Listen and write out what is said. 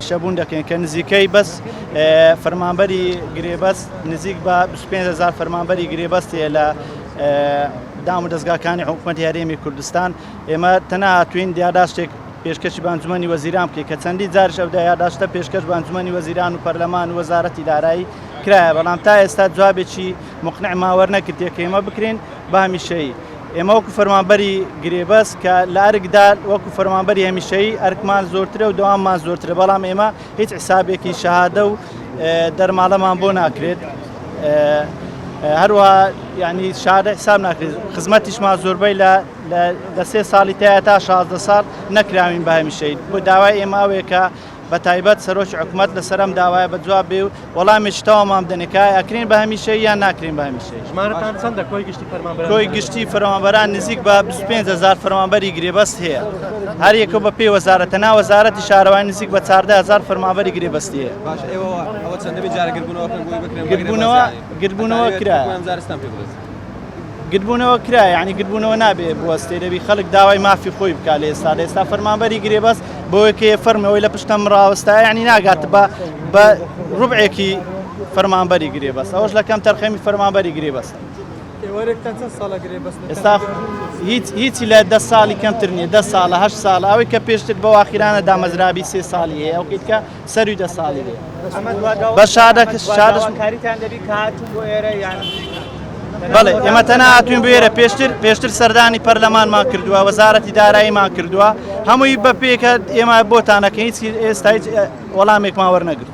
شەبوون دەکەین کە نزیکەی بەس فەرمانبەری گرێبەست نزیک بە 25هزار فەرمانبەری گرێبەستێ لە دام و دەستگاکانی حکوومەت هەرێمی کوردستان ئێمە تەنەهاتوین دیاراستێک پێشکەشی بە ئەنجومەنی وەزیران بکەیت کە چەندین جاریش ئەو یاداشتە پێشکەش بە ئەنجومەنی وەزیران و پەرلەمان و وەزارەتی دارایی کرایە بەڵام تا ئێستا جوابێکی مقنعمان وەرنەگرتووە کە ئێمە بکرێن بە هەمیشەیی ئێمە وەکو فەرمانبەری گرێبەست کە لە ئەرکدا وەکو فەرمانبەری هەمیشەیی ئەرکمان زۆرترە و دەواممان زۆرترە بەڵام ئێمە هیچ حسابێکی شەهادە و دەرماڵەمان بۆ ناکرێت هەروە ینی شارە حساب ناکرێت خزمەتیشمان زۆربەی لە لە لە سێ ساڵی تایە تا شازدە ساڵ نەکراوین بە هەمیشەیی بۆ داوای ئێمە ئەوەیە کە بە تایبەت سەرۆکی حکومەت لەسەر ئەم داوایە بە جواب بێ و وەڵامێکی تەواومان بدەنێ کە ئایا ئەکرێن بە هەمیشەیی یان ناکرێن بە هەمیشەیی ژمارەتان چەندە کۆی گشتی فەرمانبەران کۆی گشتی فەرمانبەران نزیک بە 25 هەزار فەرمانبەری گرێبەست هەیە هەر یەکە بە پێی وەزارەت تەنها وەزارەتی شارەوانی نزیک بە 14 هەزار فەرمانبەری گرێبەستی هەیە باش ئێوە ئەوە چەندە بێت جارێ گردبوونەوەکەن بۆی بکرێن گردبوونەوە گردبوونەوە کرایە. گردبوونەوە کرا یعنی گردبوونەوە نابێ بوەستێ دەبی خەڵک داوای مافی خۆی بکە لە ئێستا لە ئێستا فەرمانبەری گرێبەس بۆیەکەیە فەرمەوەی لە پشتم ڕاوەستا یعنی ناگات بە بە ڕوبعێکی فەرمانبەری گرێبەس ئەوش لەکەم تەرخەمی فەرمانبەری گرێبەس ئێستا هیچ هیچی لە دە ساڵی کەمتر نیە دە ساڵە هە ساڵ ئەوەی کە پێشتر بەواخیرانە دامەزرابی سێ ساڵی ئەو کە سەروی دە ساڵی بێ بە شارەکەشارەکاریتان دەبی کاتون بۆ ئێرە یان بەڵێ ئێمە تەنە هاتوین بێرە پێشتر پێشتر سەردانی پەرلەمانمان کردووە وەزارەتی داراییمان کردووە هەمووی بە پێکە ئێمە بۆتانەکە هیچ ئێستا هیچ وەڵامێکمان وەرنەگرت